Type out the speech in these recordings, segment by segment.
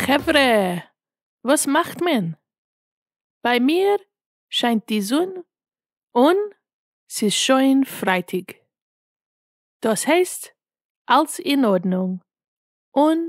חברה! וואס מאכט מען? ביי מיר שיינט די זון און ס'איז שוין פרייטאג. דאס הייסט אלס אין ארדנונג און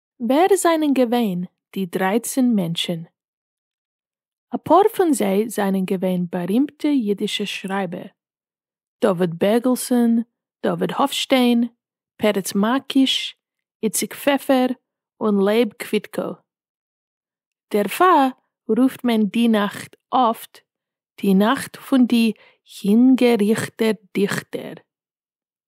ווער זענען געווען די דרייצן מענטשן? אפאר פון זיי זענען געווען בארימטע אידישע שרייבער, דוד בערגעלסאן, דוד האפשטיין, פרץ מארקיש, איציק פעפער, און לייב קוויטקאו. דערפאר רופט מען די נאכט אפט די נאכט פון די הינגעריכטע דיכטער.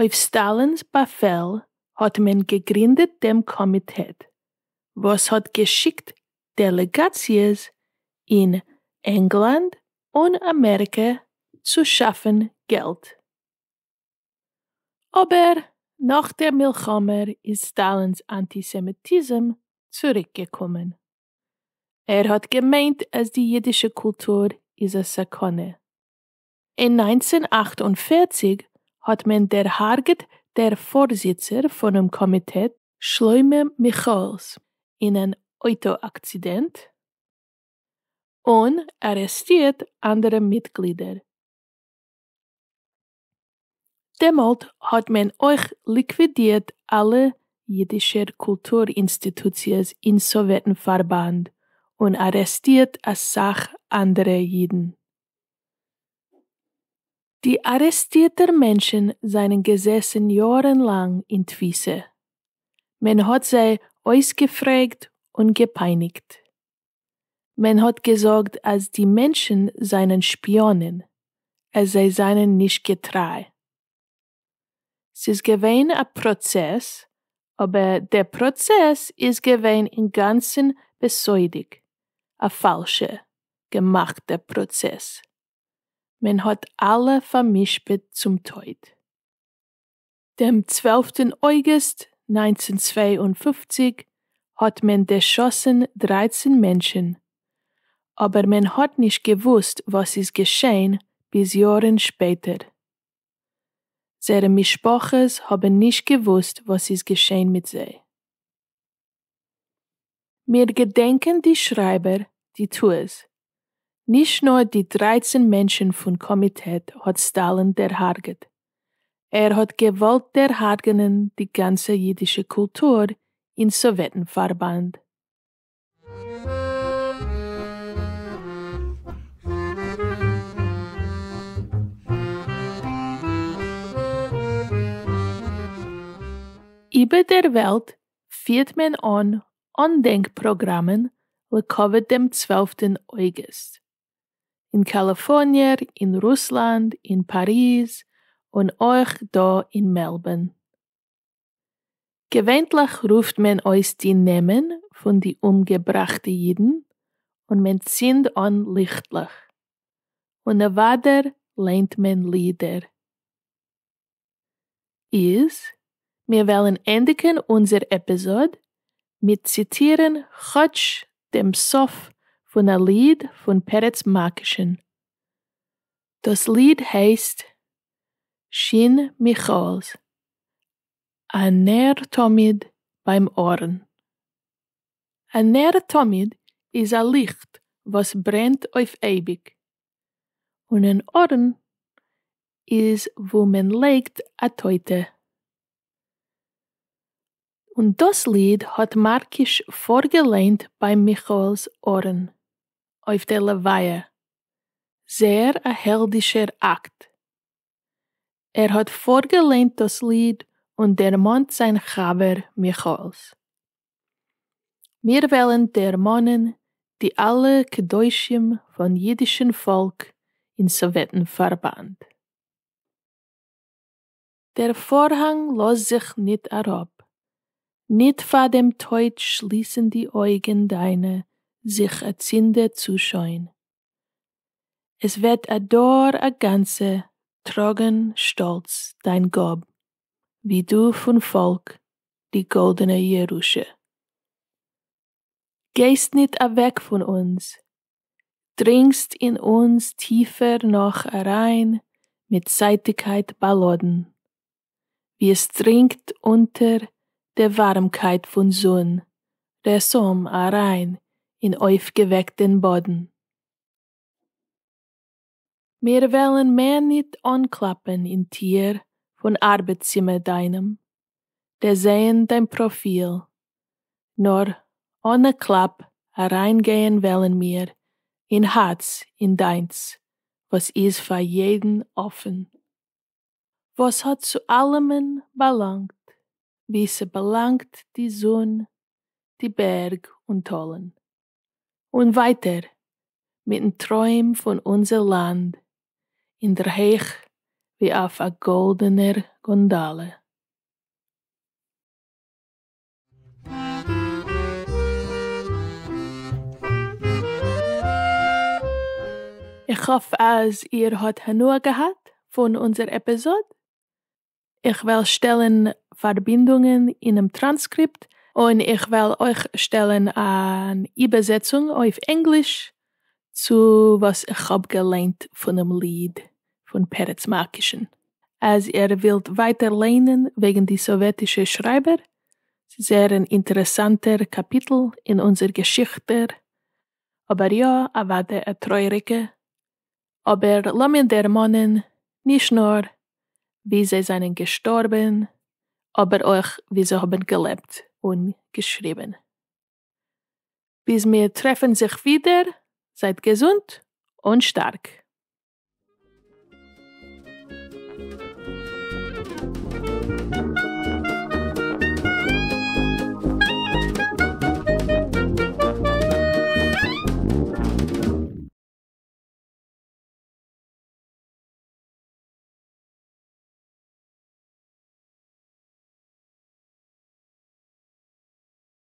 אויף סטאלינ'ס באפעל האט מען געגרינדעט דעם קאמיטעט וואס האט געשיקט דעלעגאציעס אין ענגלאנד און אמעריקע צו שאפן געלט. אבער נאך דער מלחמה איז סטאלינ'ס אנטיסעמיטיזם צוריק געקומען. ער האט געמיינט אז די אידישע קולטור איז א סכנה. אין נײַנצן אַכט און פֿערציק האט מען דערהארגעט דער פארזיצער פונעם קאמיטעט שלמה מיכאלס אין אן אויטא עקצידענט, און ארעסטירט אנדערע מיטגלידער. דעמאָלט האָט מען אויך ליקווידירט אַלע ייִדישער קולטור-אינסטיטוציעס אין סאָוועטן-פֿאַרבאַנד און אַרעסטירט אַ סך אַנדערע ייִדן. די אַרעסטירטער מענטשן זײַנען געזעסן יאָרן לאַנג אין תּפֿיסה. מען האָט זיי אויסגעפֿרעגט און געפּײַניקט. מען האט געזאגט אז די מענטשן זענען שפיאנען, אז זיי זענען נישט געטריי. ס'איז געווען א פראצעס, אבער דער פראצעס איז געווען אינגאנצן בסודיק, א פאלשע, געמאכטע פראצעס. מען האט אלע פאר'משפט צום טויט. דעם צוועלפטן אויגוסט נײַנצן צוויי און פֿופֿציק האט מען דערשאסן דרײַצן מענטשן, אבער מען האט נישט געוואוסט וואס איז געשען ביז יארן שפעטער. זייערע משפחות האבן נישט געוואוסט וואס איז געשען מיט זיי. מיר געדענקען די שרייבער די טעות. נישט נאר די דרייצן מענטשן פון קאמיטעט האט סטאלין דערהארגעט. ער האט געוואלט דערהארגענען די גאנצע אידישע קולטור אין סאוועטן פארבאנד. איבער דער וועלט פירט מען אן אנדענק פראגראמען לכבוד דעם צוועלפטן אוגוסט. אין קאליפארניע, אין רוסלאנד, אין פאריז, און אויך דא אין מעלבארן. געווענטליך רופט מען אויס די נעמען פון די אומגעבראכטע אידן און מען צינד אן ליכטלעך. און אוודאי ליינט מען לידער. איז, מיר וועלן ענדיגן אונזער עפיזאד מיט ציטירן כאטש דעם סוף פון א ליד פון פרץ מאקשן. דאס ליד הייסט שין מיכאל'ס א נר תמיד ביים ארון. א נר תמיד איז א ליכט וואס ברענט אויף אייביג, און אן ארון איז וואו מען לייגט א טויטע. און דאס ליד האט מארקיש פארגעליינט ביי מיכאל'ס ארון אויף דער לוויה, זעהר א העלדישער אקט. ער האט פארגעליינט דאס ליד און דערמאנט זיין חבר מיכאל'ס. מיר וועלן דערמאנען די אלע קדושים פון אידישן פאלק אין סאוועטן פארבאנד. דער פארהאנג לאזט זיך ניט אראפ. ניט פאר דעם טויט שליסן די אויגן דיינע זיך אצינדע צו שוין. עס וועט א דור א גאנצע טראגען שטאלץ דיין גאב ווי דו פון פאלק די גאלדענע ירושה. גייסט ניט אוועק פון אונז, דרינגסט אין אונז טיפער נאך אריין מיט זייטיגקייט באלאדן. ווי עס דרינגט אונטער די ווארעמקייט פון זון רעסאם אריין אין אויפגעוועקטען באדן. מיר וועלן מער ניט אנקלאפען אין טיהר פון ארבעט צימער דיינעם, דערזעהן דיין פראפיל, נאר אנע קלאפ אריין געהן וועלן מיר אין הארץ אין דיינס וואס איז פאר יעדן אפען. וואס האט צו אלעמען באלאנגט ווי ס'באלאנגט די זון, די בערג און טאלן. און ווייטער מיטן טרוים פון אונזער לאנד אינדערהייך ווי אויף א גאלדענער גאנדאלע. איך האף אז איר האט הנאה געהאט פון אונזער עפיזאד, איך וועל שטעלן פארבינדונגען אינעם טראנסקריפט, און איך וועל אויך שטעלן אן איבערזעצונג אויף ענגליש צו וואס איך האב געליינט פונעם ליד פון פרץ מארקישען. אז איר ווילט ווייטער ליינען וועגן די סאוועטישע שרייבער, זייער אן אינטערעסאנטער קאפיטל אין אונזער געשיכטע, אבער יא אוודאי א טרויעריגע, אבער לאמיר דערמאנען נישט נאר ווי זיי זענען געשטארבען, אבער אויך ווי זיי האבן געלעבט און געשריבן. ביז מיר טרעפן זיך ווידער, זייט געזונט און שטארק.